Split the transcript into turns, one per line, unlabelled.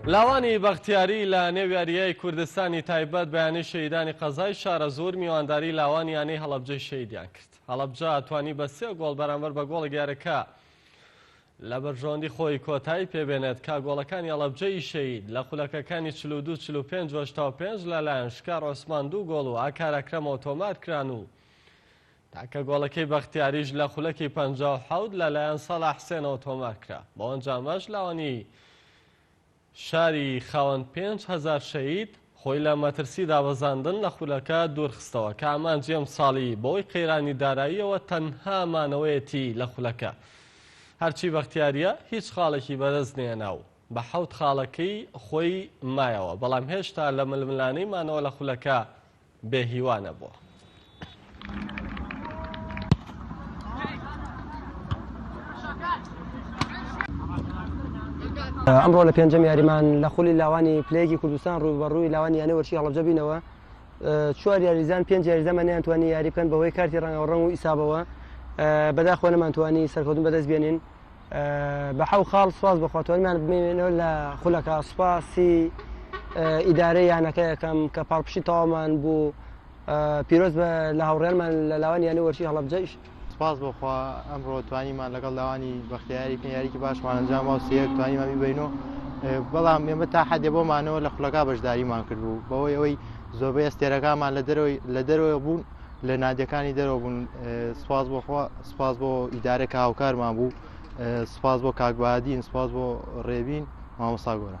لاوانی بەختیاری لە نێو یاریی کوردستانی تایبەت بە یانەی شەهیدانی قەزای شارەزوور میوانداری لاوانی یانەی هەڵەبجەی شەهیدیان کرد. هەڵەبجە توانی بە سێ گۆڵ بەرامبەر بە گۆڵێک یارەکە لە بەرژەوەندی خۆی کۆتایی پێبێنێت کە گۆڵەکانی ئەڵەبجەی شەید لە خولەکەکانی چل و دوو چل و پێنج و هەشتا و پێنج لەلایەن شکار عوسمان دوو گۆڵ و ئاکار ئەکرەمەوە تۆمار کران و تاکە گۆڵەکەی بەختیاریش لە خولەکی پەنجا و حەوت لەلایەن ساڵح حسێنەوە تۆمار کرا بەوەنجامەش لاوانی شاری خاوەن پێنج هەزار شەهید، خۆی لە مەترسی دابەزاندن لە خولەکە دوورخستەوە، کە ئامانجی ئەمساڵی بەهۆی قەیرانی داراییەوە تەنها مانەوەیەتی لە خولەکە. هەرچی بەختیارییە هیچ خاڵێکی بەدەست نەهێنا و بە حەوت خاڵەکەی خۆی مایەوە، بەڵام هێشتا لە ململانێی مانەوە لە خولەکە، بێ هیوا نەبووە.
ئەمڕۆ لە پێنجەم یاریمان لە خولی لاوانی پلەیەکی کوردستان ڕوو بە ڕووی لاوانی یانە وەرشی هەڵبجەبینەوە چوار یاریزان پێنج یاریزەمە نیانتوانی یاری بکەن بەهۆی کارتی ڕەنگەوە ڕەنگ و ئیسابەوە بەداخۆ نەمانتوانی سەرکەوتن بەدەست بێنین بە حەو خاڵ سپاس بەخوا توانمان بمێنەوە لە خولەکە سوپاسی ئیدارەی یانەکە یەکەم کە پاڵپشی تەوامان بوو پیرۆز بە لە هاوڕێنمان لە لاوان یانی وەرشی هەڵبجەش سپاس بۆخوا
ئەمڕۆ توانیمان لەگەڵ لاوانی بەختیاری پێیاریکی باشمان ئەنجام وسیەک توانیمان بیبینەوە بەڵام ئێمە تا حەدێ بۆمانەوە لە خولەکە بەشداریمان کردبوو بەوەی ئەوەی زۆربەی ئەستێرەکانمان لە دەرەوەی لە دەرەوە بوون لە نادیەکانی دەرەوە بوون سپاس بۆ خوا سپاس بۆ ئیدارە کە هاوکارمان بوو سپاس بۆ کاکبادین سپاس بۆ ڕێبین مامۆسا گۆرە